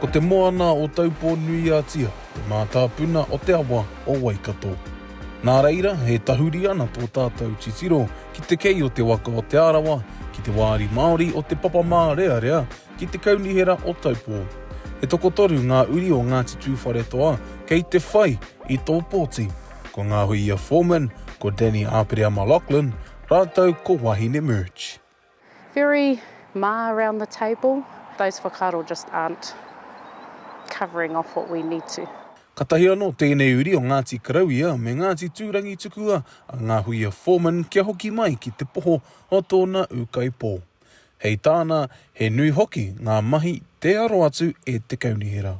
Ko te moana o Taupō-nui-a-Tia te mātāpuna o te awa o Waikato. Nā reira, e tahuri ana tō tātou titiro ki te kei o te waka o Te Arawa, ki te wāri Māori o Te Papamārearea, ki te Kaunihera o Taupō. E tokotoru ngā uri o Ngāti Tūwharetoa kei te whai i tō pōti. ko Ngāhuia Foreman, ko Danny Aperea-Maloughlin rātou ko Wahine Murch. Very mā around the table, those whakaaro just aren't covering off what we need to. Katahi anō tēnei uri o Ngāti Karauia me Ngāti Tūrangi tukua a Ngāhuia Foreman kia hoki mai ki te poho o tōna ūkaipō. Hei tāna, he nui hoki ngā mahi tē aro atu e te kaunihera.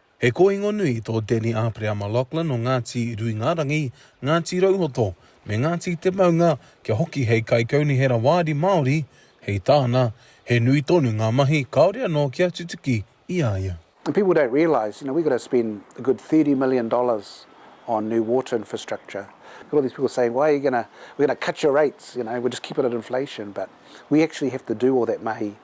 He kōingo nui tō Danny Āpereama-Loughlin o Ngāti Ruingārangi, Ngāti Rauhoto me Ngāti Te Maunga kia hoki hei kaikaunihera wāri Māori, hei tāna, he nui tonu ngā mahi kāore anō kia tutuki i a ia. And people don't realise, you know, we've got to spend a good thirty million dollars on new water infrastructure. We've got all these people saying, why are you going to, we're going to cut your rates, you know, we'll just keep it at inflation, but we actually have to do all that mahi.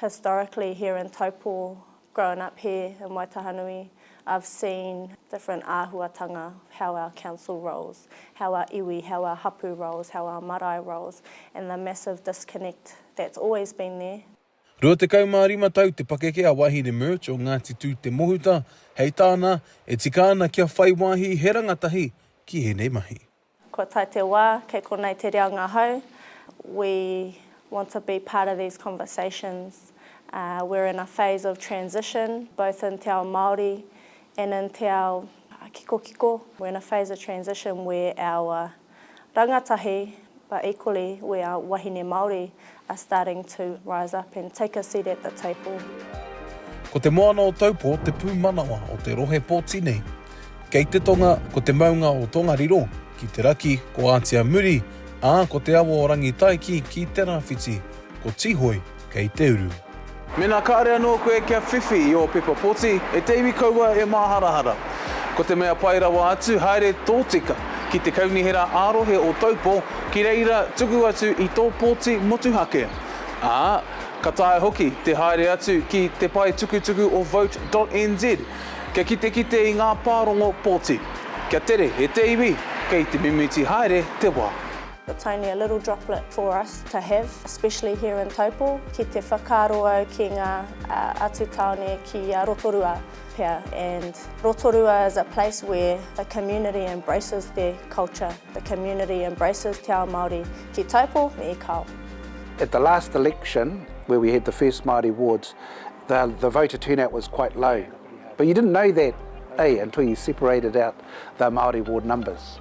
Historically here in Taupō Grown up here in Waitahanui I've seen different āhuatanga how our council rolls, how our iwi, how our hapu rolls, how our marae rolls and the massive disconnect that's always been there. 25 tau te pakeke a Wahine Murch o Ngāti Tū Te Mohuta, hei tāna, e tika ana kia whai wāhi he rangatahi ki ēnei mahi. Kua tae te wā, kei konei te reo ngahau, we want to be part of these conversations, we're in a phase of transition, both in te ao Māori and in te ao kikokiko, we're in a phase of transition where our rangatahi, but equally where our wahine Māori are starting to rise up and take a seat at the table. Ko Te Moana o Taupo te pūmanawa o te rohe pōti nei. Kei te tonga ko te maunga o Tongariro, ki te raki ko Ātiamuri, ā, ko te awa o Rangitaiki ki te rāwhiti, ko Tīhoi kei te uru. Mēnā kāre anō koe kia whiwhi i ō pepa poti, e te iwi kaua e māharahara. Ko te mea pai rawa atu, haere tōtika ki te Kaunihera ā-Rohe o Taupo, ki reira tuku atu i tō poti motuhake. Ā, ka taea hoki te haere atu ki te pae tukutuku o Vote.nz kia kitekite i ngā pārongo poti. Kia tere e te iwi, kei te mimiti haere te wā. It's only a little droplet for us to have, especially here in Taupo, ki te whakaaro au ki ngā atu tāone ki a Rotorua pea and Rotorua is a place where the community embraces their culture, the community embraces te ao Māori ki Taupo me Ikao. At the last election where we had the first Māori wards, the the voter turnout was quite low, but you didn't know that, eh, until you separated out the Māori ward numbers.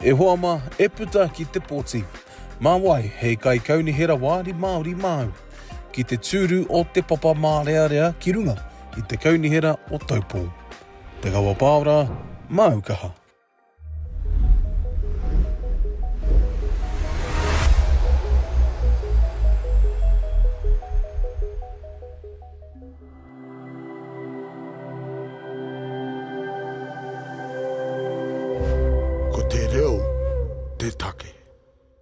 E hoa ma, e puta ki te poti. Ma wai, hei kai kaunihera wāri Māori māu. Ki te tūru o Te Papa Mārearea ki runga i te kaunihera o Taupō. Te Kawa Pāora, māu kaha. Ko te reo te take.